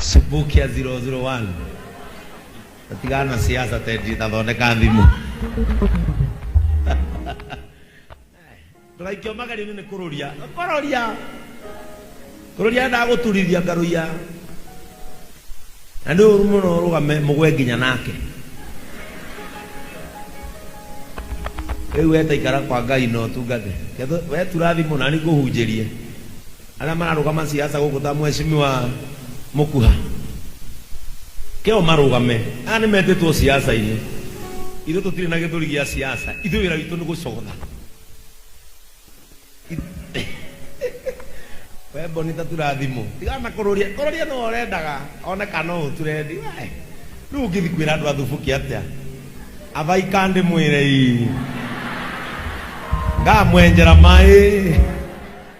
Subukia 001 atigana na siasa tendi tathondeka thimũ ndũgaikio magari-inĩ nĩ kũrũria kũrũria kũrũria endaga gũturithia ngarũia na nĩ ũru mũno ũrũgame mũgwe nginya nake rĩu wetaikara kwa ngai na ũtungate Ketho- wetura thimũ nani ngũhunjĩrie arĩa mararũgama siasa gũkũ ta mheshimiwa Mũkuha keo marũgame aya nĩ metĩtwo siasa-inĩ ithuĩ tũtirĩ na gĩthũri gĩa siasa ithuĩ wĩra witũ nĩ gũcogotha we bonita turathimũ tigana na kũrũria kũrũria no ũrendaga one kana no ũturendi we rĩu ũngĩthi kwĩra andũ athubuki atĩa athaika ndĩmwĩre ii ngamwenjera maĩ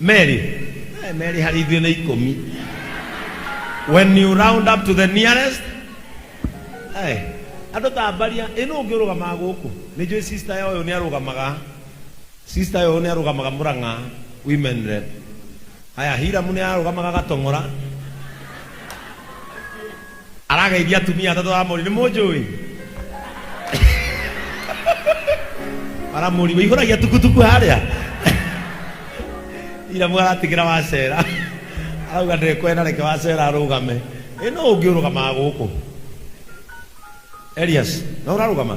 Merĩ. Eh, Merĩ harĩ ithuĩ nĩ ikũmi. When you round up to the nearest. Eh, andũ tambaria, ĩ nũ ũngĩ ũrũgamaga gũkũ? Nĩ njũĩ sister ya ũyũ nĩ arũgamaga. Sister ya ũyũ nĩ arũgamaga Mũrang'a women rep. Haya, Hiramu nĩ arũgamaga Gatong'ora. Arageithia atumia atatũ a Amoni. Nĩ mũnjũĩ? Aramũri, ũihũragia tukutuku harĩa? Ira mwaratigĩra wacera. Arauga ndekwenda reke wacera arũgame. Ĩ no ũngĩ ũrũgamaga gũkũ? Elias, no ũrarũgama?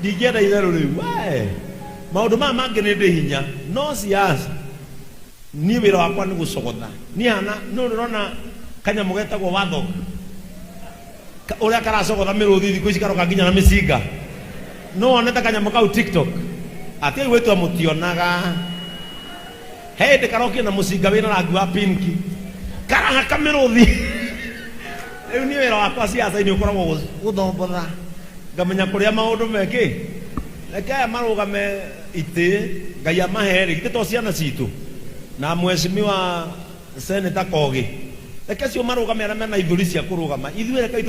Ndingĩenda itherũ rĩu we. Maũndũ maya mangĩ nĩ ndĩ hinya no siasa niĩ wĩra wakwa nĩ gũcogotha. Niĩ hana nũ nĩũrona kanyamũ getagwo warthog ũrĩa karacogotha mĩrũthi thikũ ici karoka nginya na mĩcinga. Nũ wonete kanyamũ kau tiktok? Atiĩ augĩtwo mũtionaga. He hĩndĩ karokire na mũcinga wĩna rangi wa pinki karahaka mĩrũthi rĩu niĩ wĩra wakwa ciaca-inĩ ũkoragwo gũ- gũthombotha ngamenya kũrĩa maũndũ mekĩ reke aya marũgame itĩ ngai amaherĩ githĩ to ciana citũ na mweshimiwa seneta kogi reke cio marũgame arĩa mena ithũri cia kũrũgama ithuĩ reke itũ